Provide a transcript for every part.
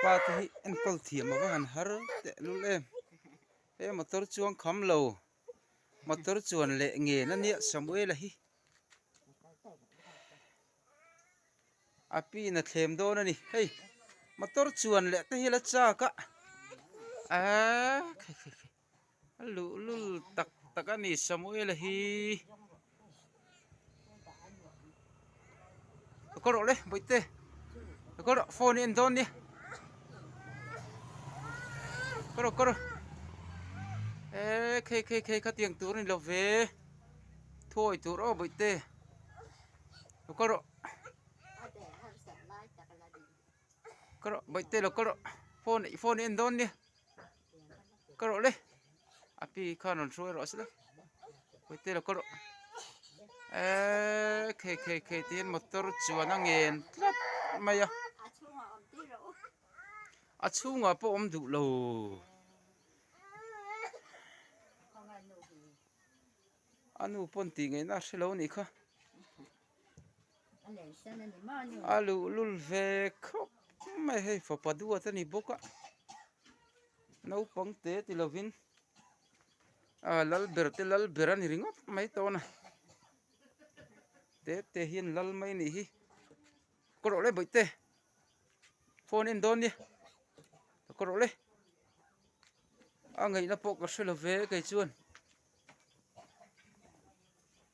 pa te hi enkawl thiam ava han har teh lul em he motor chuang kham lo motor chuan leh ngen a nia samuel a hi a pin a thlem dawn a ni hei motor chuan leh te hi la chak a eehh. A luhlul tak tak a ni Samuela hi a kawlh rawh le Bawihtê a kawlh rawh phone hi en dawn nia ka rawh ka rawh he khei khei khei kha tiang tur a ni lo ve thuawi tur aw Bawihtê a kawlh rawh. ka rawh bawihte lo ka rawh phone i phone i en dawn nia ka rawh le a pi khan rawn hruai rawh a se la bawihte lo ka rawh eeii khei khei khei tiin motor chuan a ngen tlat mai a a chhungah pawh awm duh lo. a luhlul ve khawp mai hei fapa duat a ni bawk a naupang te ti lovin ah lal ber te lal ber a ni ringawt mai tawn a te te hian lal mai nih hi ka rawh leh bawihte phone en dawn nia ka rawh leh a ngaihna pawh ka hre lo ve kei chuan.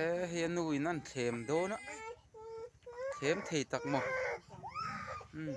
Eee hei a nu in an thlem dawn a thlem thei tak maw umm.